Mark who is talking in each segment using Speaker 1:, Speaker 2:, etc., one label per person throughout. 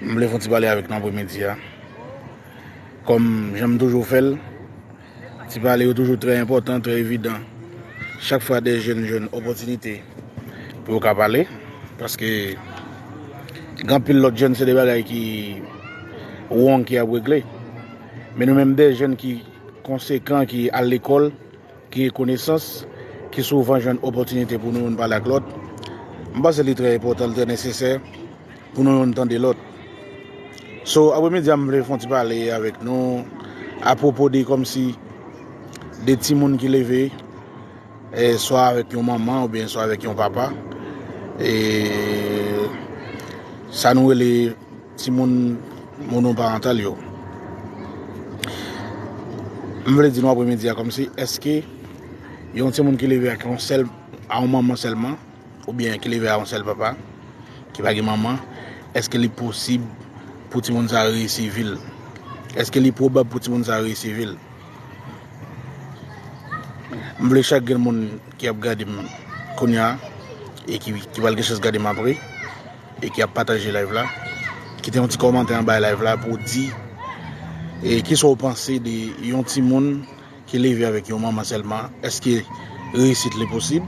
Speaker 1: M vle fon ti pale avèk nou apremidi a. Kòm jan m toujou fè l, ti pale yo toujou trè enpòtan, trè evidan. Chak fwa de jèn jwenn opòtinite pou yo ka pale, paske gen anpil lòt jèn se de bagay ki wong ki ap regle. Men nou menm de jèn ki konsekan, ki al lekòl. Gen konesans ki souvan jwenn opòtinite pou nou youn pale ak lòt. M panse li trè enpòtan, li trè nesesè pou nou youn tande lòt. So, apremidi a m vle fè yon ti pale avèk nou apwopo de kòmsi de timoun ki leve e swa avèk yon manman oubyen swa avèk yon papa e sa nou rele Timoun monoparantal yo. M vle di nou apremidi a kòmsi èske yon timoun ki leve ak yon sèl a yon manman sèlman oubyen ki leve a yon sèl papa ki pa gen manman èske li posib pou timoun sa reyisi vi l? Èske li pwobab pou timoun sa reyisi vi l? M vle chak gen moun ki ap gade m kounya e ki pral gen chans gade m apre e ki ap pataje live la kite yon ti kòmantè anba live la pou di e kisa ou panse de yon timoun ki leve avèk yon manman sèlman eske reyisit li posib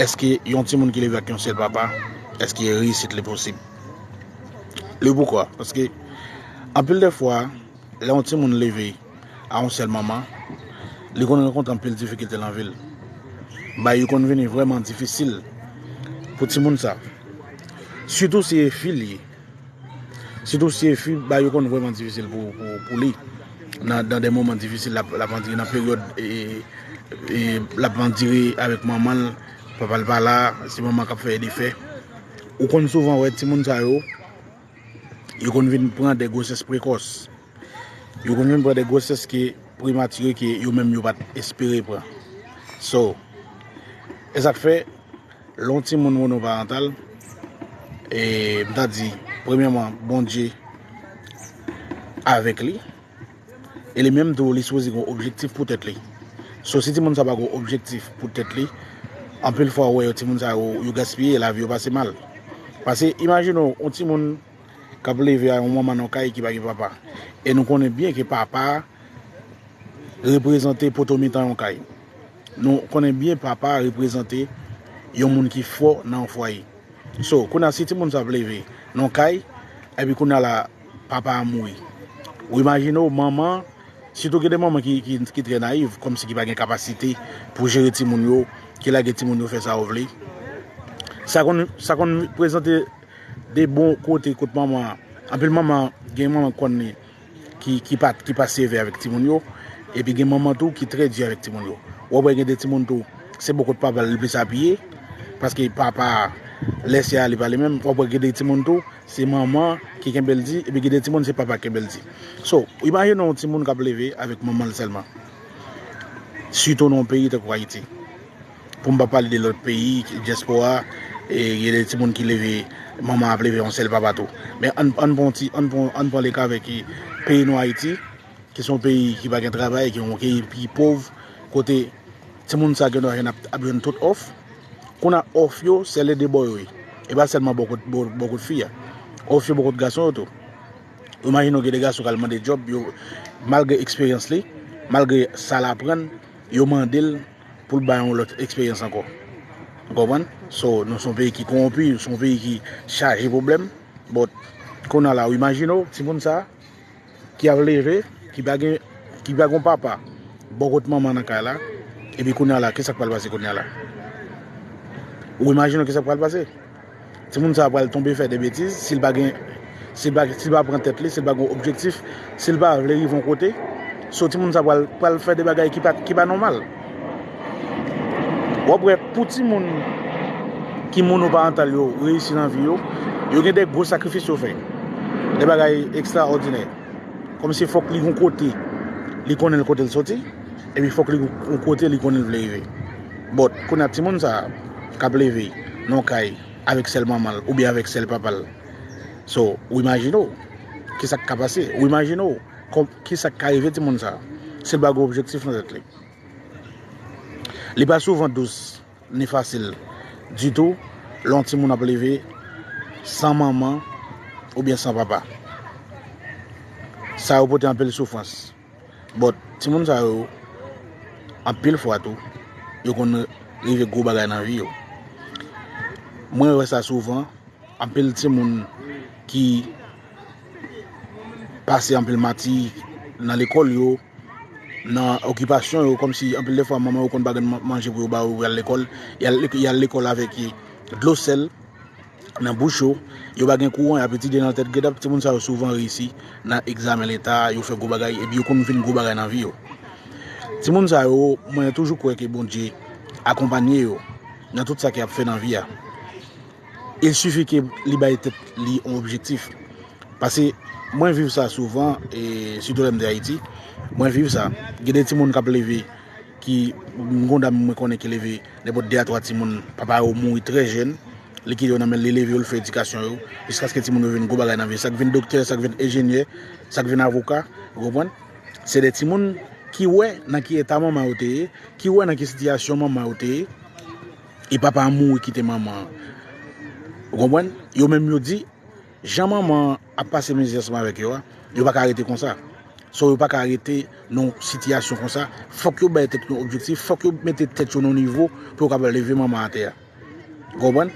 Speaker 1: eske yon timoun ki leve ak yon sèl papa eske reyisit li posib le pou kwa paske anpil de fwa Lè yon timoun leve a yon sèl manman, li konn rankontre anpil difikilte nan vi l. Bay yo konn vini vrèman difisil pou timoun sa. Sitou si e fi li ye. Sitou si e fi, bay yo konn vrèman difisil pou li nan de moman difisil l ap andire nan peryòd l ap andire avèk manman l, papa l pa la, se manman k ap fè e defè. Ou konn souvan wè timoun sa yo. Yo konn vin pran de gwosès prekòs. Yo konn vin pran de gwosès ki premature ke yo menm yo pat espere pran. So, e sak fè lè yon timoun monoparantal, e m ta di premyèman Bondye avèk li. e li menm tou li sipoze gen yon objektif pou tèt li so si timoun sa pa gen yon objektif pou tèt li anpil fwa ou wè yo timoun sa yo yo gaspiye lavi yo pase mal pase imajine ou yon timoun k ap leve a yon manman nan yon kay ki pa gen papa e nou konnen byen ke papa reprezante poto mitan yon kay nou konnen byen papa reprezante yon moun ki fò nan yon fwaye so kounye a si timoun sa ap leve nan yon kay epi kounye a la Papa a mouri. Ou imajine w manman, sitou gen de manman ki trè nayiv, kòmsi ki pa gen kapasite pou jere timoun yo, ki lage timoun yo fè sa yo vle. Sa konn, sa konn prezante de bon kote kot manman an. Anpil manman, gen manman ou konn li ki pa, ki pa sevè avèk timoun yo. Epi gen manman tou ki trè di avèk timoun yo. Ou ap wè gen de timoun tou, se bò kot papa l li plis apiye. Paske papa a, lè se ale pa li menm. Ou ap wè gen de timoun tou. se manman ki kenbe l di epi gen de timoun se papa ki kenbe l di so imajine yon timoun kap leve avèk manman l sèlman sitou nan yon peyi tankou ayiti pou m pa pale de lòt peyi dyèspora e gen de timoun ki leve manman ap leve yon sèl papa tou men ann pran ann pran leka avèk peyi nou ayiti ki son peyi ki pa gen travay ki yon peyi ki pov kote timoun sa gen nan jèn ap jwenn tout òf Konn a off yo sè le 2 bò yo ye e pa sèlman bò kot bò kot fi a off yo bò kot gason yo tou ou imajine w gen 2 gason kal mande djòb yo malgre eksperyans li malgre sa l aprann yo mande l pou l bay yon lòt eksperyans ankò ou konprann so nou son peyi ki konwonpi son peyi ki chaje pwoblèm bòt konn a la ou imajine w timoun sa. ki ap leve, ki pa gen, ki pa gen yon papa bò kot manman nan kay la, epi kounya la, kisa k pral pase kounya la? Ou imajine w kisa k pral pase? Timoun sa a pral tonbe fè de betiz, si l pa gen, si l pa, si l pa pran tèt li, si l pa gen yon objektif, si l pa vle rive yon kote, so timoun sa a pral, pral fè de bagay ki pa, ki pa nòmal. Wap wè pou ti moun ki monoparantal yo reyisi nan vi yo, yo gen de gwo sakrifis yo fè. De bagay ekstraòdinè. Kòm si fòk li gon kote li konnen kote l soti, epi fòk li gon kote li konnen l vle rive. Bòt, kounye a ti moun sa a, k ap leve nan yon kay avèk sèl manman l oubyen avèk sèl papa l. So, ou imajine w, kisa k ka pase? Ou imajine w Kisak ka rive timoun sa sil pa gen objektif nan tèt li? Li pa souvan dous ni fasil ditou lè yon timoun ap leve san manman oubyen san papa. Sa yo pote anpil soufrans. But, timoun sa yo anpil fwa tou yo konn rive gwo bagay nan vi yo. Mwen wè sa souvan, anpil timoun ki. pase anpil mati nan lekòl yo, nan okipasyon yo, kòm si anpil de fwa manman yo konn pa gen manje pou yo ba yo pou yal lekòl, yal lekòl avèk dlo sèl nan bouch yo, yo pa gen kouran yap etidye nan tèt gèt, timoun sa yo souvan reyisi nan egzamen leta, yo fè gwo bagay epi yo konn vin gwo bagay nan vi yo. Timoun sa yo mwen toujou kwè ke Bondye akonpanye yo nan tout sa ke yap fè nan vi a. Il suffit ke li bay tèt li on objectif. Pase mwen viv sa souvan e sitou lèm de Ayiti, mwen viv sa. Gen de timoun kap leve ki m gon dam mwen konnen ki leve nenpòt 2 a 3 timoun, papa yo mouri trè jèn, li kite yo nan men l, li leve yo, li fè edikasyon yo jiskaske timoun yo vin gwo bagay nan vi. Sak vin doktè, sak vin enjenyè, sak vin avoka, ou konprann? Se de timoun ki wè nan ki eta manman yo te ye, ki wè nan ki sitiyasyon manman yo te ye. e papa an mouri kite manman an ou konprann yo menm yo di jan manman an ap pase mizè ansanm avèk yo a yo pa ka rete konsa so yo pa ka rete nan sitiyasyon konsa fòk yo bay tèt yo objektif fòk yo mete tèt yo nan nivo pou yo kapab leve manman an atè a ou konprann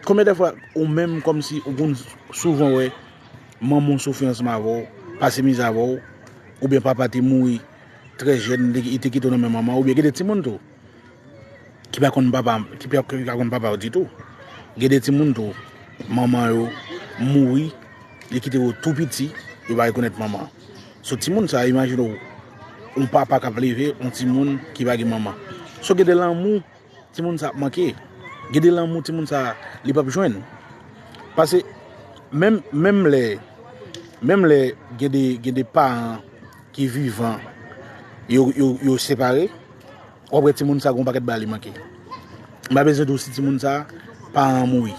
Speaker 1: konbyen de fwa ou menm kòmsi ou konn souvan wè manman w soufri ansanm avè w pase mizè avè w oubyen papa te mouri trè jèn li te kite w nan men manman w oubyen gen de timoun tou. ki pa konn papa ki pa konn papa yo ditou gen de timoun tou manman yo mouri li kite yo tou piti yo pa rekonèt manman sou timoun sa imajine ou yon papa kap leve yon timoun ki pa gen manman sou gen de lanmou timoun sa ap manke gen de lanmou timoun sa li pap jwenn pase menm menm lè menm lè gen de gen de paran ki vivan yo yo yo separe Wap wè timoun sa gon pakèt bagay li manke. M pa bezwen diw si timoun sa paran an mouri.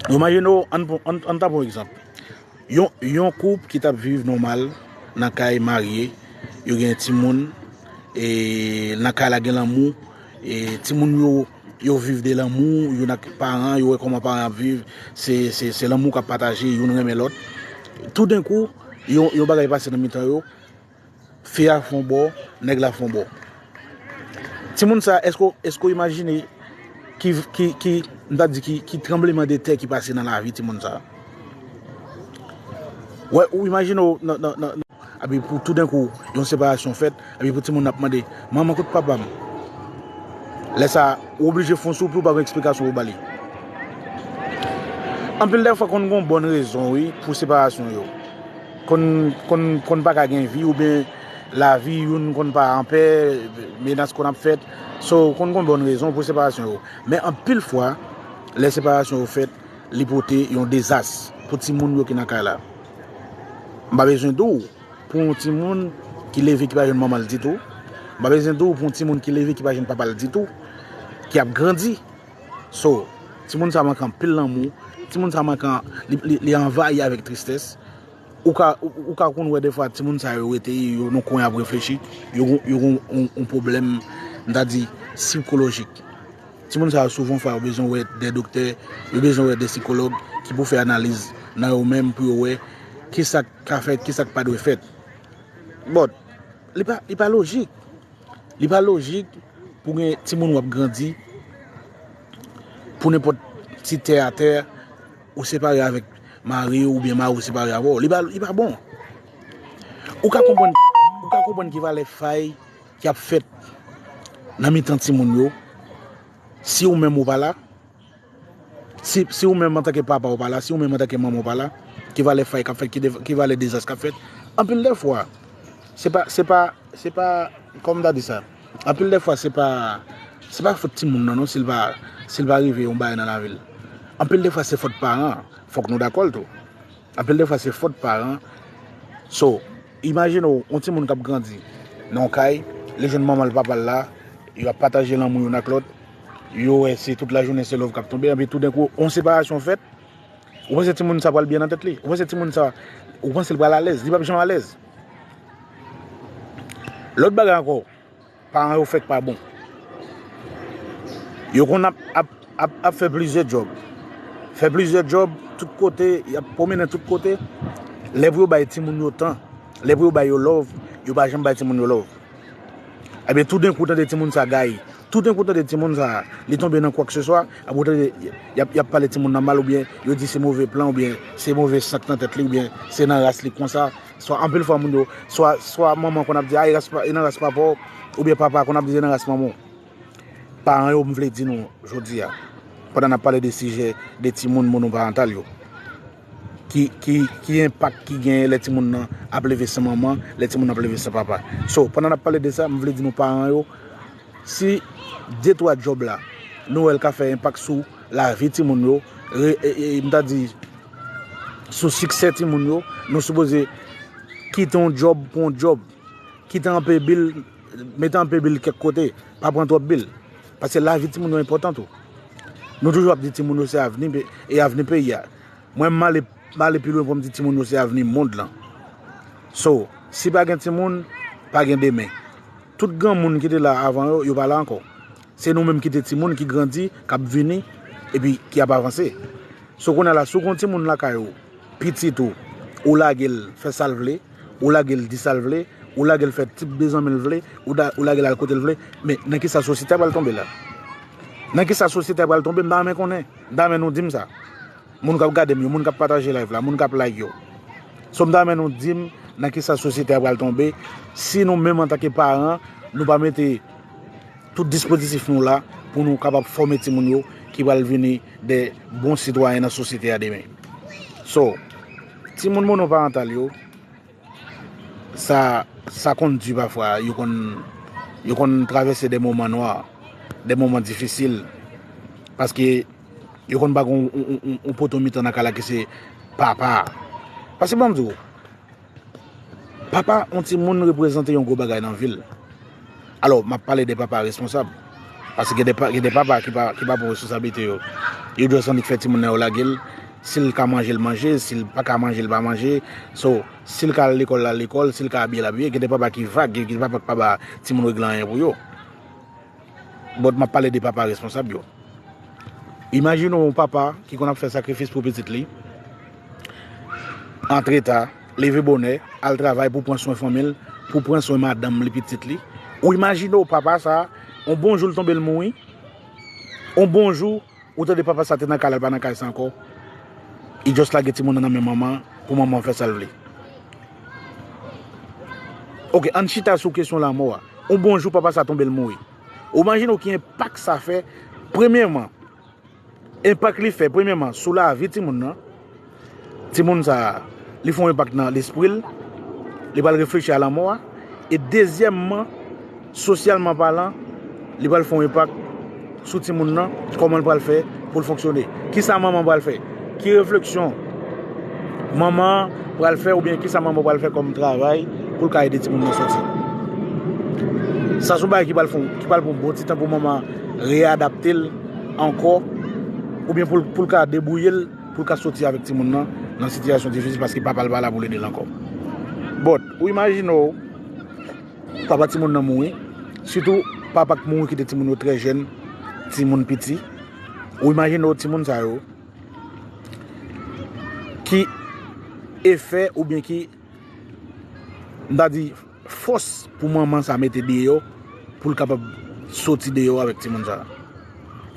Speaker 1: Imajine w ann ta pran yon egzanp. Yon koup ki tap viv nòmal nan kay marye, yo gen timoun e nan kay la gen lanmou e timoun yo yo viv de lanmou, youn ak paran, yo wè kòman paran yo ap viv, se lanmou kap pataje, youn renmen lòt. Toudenkou yon bagay pase nan mitan yo. Fi a fon bò, nèg la fon bò. Timoun sa eske w eske w imajine ki ki ki m ta di ki ki tranbleman de tè ki pase nan lavi timoun sa? Wè ou imajine w nan nan nan epi pou toudenkou yon separasyon fèt epi pou timoun ap mande manman kot papa m? Lè sa ou oblije fon sou pou w pa gen eksplikasyon pou w ba li. Anpil dè fwa konn gen yon bòn rezon wi pou separasyon yo. Konn pa ka gen vi oubyen lavi youn konn pa anpè, menas konn ap fèt, so konn gen bon rezon pou separasyon yo. Men anpil fwa, lè separasyon yo fèt, li pote yon dezas pou timoun yo ki nan kay la. M pa bezwen di w pou yon timoun ki leve ki pa jwenn manman l ditou, m pa bezwen di w pou yon timoun ki leve ki pa jwenn papa l ditou, ki ap grandi. So, timoun sa manke anpil lanmou, timoun sa manke li anvayi avèk tristès. Ou ka konn wè defwa timoun sa yo rete yo nan kwen ap reflechi, yo gen yon pwoblèm m ta di sikolojik. Timoun sa yo souvan fwa yo bezwen wè de doktè, yo bezwen wè de sikològ ki pou fè analiz nan yo menm pou yo wè ki sa k ka fèt, ki sa k pa dwe fèt. Bon, li pa lojik. Li pa lojik pou gen timoun wap grandi pou nenpòt ti tè a tè ou separe avèk mari ou oubyen mari ou separe avè w. Li pa bon. Ou ka konprann ki valè fay ki ap fèt nan mitan timoun yo si ou menm ou pa la. Si ou menm antanke papa ou pa la, si ou menm antanke manman ou pa la, ki valè fay k ap fèt, ki valè dezas k ap fèt. Anpil dè fwa, se pa, se pa, se pa, kòman m ta di sa? Anpil dè fwa se pa, se pa fòt timoun nan non si l pa, si l pa rive yon bagay nan lavi l. Anpil dè fwa se fòt paran an, fòk nou dakò l tou. Anpil dè fwa se fòt paran an. So. Imajine w yon timoun k ap grandi nan yon kay, li jwenn manman l papa l la, yo ap pataje lanmou youn ak lòt, yo wè se tout lajounen se lòv k ap tonbe, epi toudenkou yon separasyon fèt, ou panse timoun sa pral byen nan tèt li? Ou panse timoun sa, ou panse l pral alèz? Li p ap janm alèz. Lòt bagay ankò. Paran yo fèk pa bon. Yo konn ap fè plizyè djòb. Fè plizyè djòb tout kote. Y ap pwomennen tout kote. Lè pou yo bay timoun yo tan. Lè pou yo bay yo lòv. Yo pa janm bay timoun yo lòv. Ebyen toudenkou ou tande timoun sa gaye. Toudenkou ou tande timoun sa li tonbe nan kwakseswa. Ebyen ou tande y ap pale timoun nan mal oubyen yo di se move plan oubyen se move sant nan tèt li oubyen se nan ras li konsa. Swa anpil fwa moun yo, swa swa manman konn ap di a e ras pa e nan ras papa w oubyen papa konn ap di se nan ras manman w. Paran yo m vle di nou jodi a pandan n ap pale de sijè de timoun monoparantal yo ki ki ki enpak ki genyen lè timoun nan ap leve san manman, lè timoun nan ap leve san papa. So pandan n ap pale de sa m vle di nou paran yo si de twa djòb la nou wè l ka fè enpak sou lavi timoun yo re e e m ta di sou siksè timoun yo nou sipoze kite yon djòb pou yon djòb kite anpe bil mete anpe bil kèk kote pa pran twòp bil pase lavi timoun yo enpòtan tou nou toujou ap di timoun yo se avni e avni peyi a mwen m ale m ale pi lwen pou m di timoun yo se avni mond lan so si pa gen timoun pa gen demen tout granmoun ki te la avan yo yo pa la ankò. Se nou menm ki te timoun ki grandi, k ap vini epi ki ap avanse. So kounye a la, si w gen yon timoun lakay ou, pitit ou, ou lage l fè sa l vle, ou lage l di sa l vle, ou lage l fè tip de zanmi l vle, ou lage l al kote l vle, men nan ki sa sosyete a pral tonbe la? Nan ki sa sosyete a pral tonbe, m ta renmen konnen. M ta renmen nou di m sa. Moun k ap gade m yo, moun k ap pataje live la, moun k ap like yo. So m ta renmen nou di m nan ki sa sosyete a pral tonbe si nou menm antanke paran nou pa mete. Tout dispozitif nou la pou nou kapab fòme timoun yo ki pral vini de bon sitwayen nan sosyete a demen. So, timoun monoparantal yo, sa sa konn di pafwa, yo konn yo konn travèse de moman nwa, de moman difisil paske yo konn pa gen yon poto mitan nan kay la ki se papa a. Paske ban m di w. Papa yon timoun reprezante yon gwo bagay nan vil. Alò, m ap pale de papa responsab. Paske gen de papa ki pa pran responsablite yo. Yo jis annik fè timoun nan yo lage l. Si l ka manje, l manje. Si l pa ka manje, l pa manje. So, si l ka al lekòl, l al lekòl. Si l ka abiye, l abiye. Gen de papa ki vag. Gen de papa ki pa ba timoun regle anyen pou yo. But map pale de papa responsab yo. Imajine w yon papa ki konn ap fè sakrifis pou pitit li, antre ta, leve bonè, al travay pou pran swen fanmi l, pou pran swen madanm li, pitit li. Ou imajine w papa sa, yon bon jou l tonbe l mouri, yon bon jou, Ou tande papa sa te nan kay la li pa nan kay sa ankò li just lage timoun nan nan men manman pou manman an fè sal vle ok ann chita sou kesyon lanmò a on bon jou papa sa tonbe l mouri ou imajine w ki enpak sa fè premyèman enpak li fè premyèman sou lavi timoun nan. Timoun sa a, li fè yon enpak nan lespri l, li pral reflechi a lanmò a, e dezyèmman, sosyalman palan, li pral fè yon enpak sou timoun nan, kòman l pral fè pou l fonksyone, kisa manman an pral fè, ki refleksyon manman an pral fè oubyen kisa manman an pral fè kòm travay pou l ka ede timoun nan sòti. Sa se yon bagay ki pral pran yon bon ti tan pou manman an reyadapte l ankò oubyen pou l ka debwouye l. pou l ka soti avèk timoun nan nan sitiyasyon difisil paske papa l pa la pou l ede l ankò. But, ou imajine w, papa timoun nan mouri, sitou papa k mouri kite timoun yo trè jèn, timoun piti, ou imajine w timoun sa yo, ki efè oubyen ki, m ta di. fòs pou manman sa mete deyò pou l kapab soti deyò avèk timoun sa?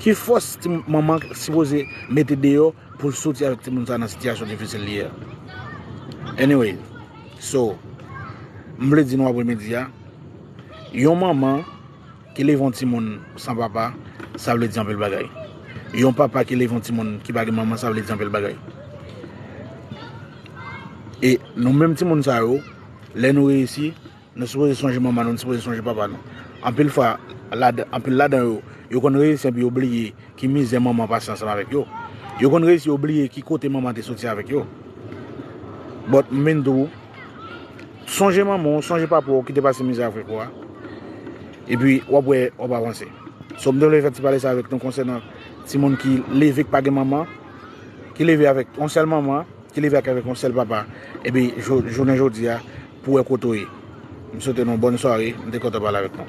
Speaker 1: Ki fòs manman sipoze mete deyò pou l soti avèk timoun sa nan sitiyasyon difisil li ye a? Anyway, so, m vle di nou apremidi a, yon manman ki leve yon timoun san papa, sa vle di anpil bagay. Yon papa ki leve yon timoun ki pa gen manman, sa vle di anpil bagay. E nou menm timoun sa yo. Lè nou reyisi, nou sipoze sonje manman nou, nou sipoze sonje papa nou. Anpil fwa, anpil ladan yo, yo konn reyisi epi yo bliye ki mizè manman pase ansanm avèk yo. Yo konn reyisi yo bliye ki kote manman te soti avèk yo. But, m vin di w, sonje manman w, sonje papa w ki te pase mizè avèk ou a, epi w ap wè w ap avanse. So, m te vle fè ti pale sa avèk nou konsènan timoun ki leve k pa gen manman, ki leve avèk yon sèl manman. Ki leve ak avèk yon sèl papa epi jounen jodi a pou wè kote w ye. M swete nou bòn sware, m te kontan pale avèk nou.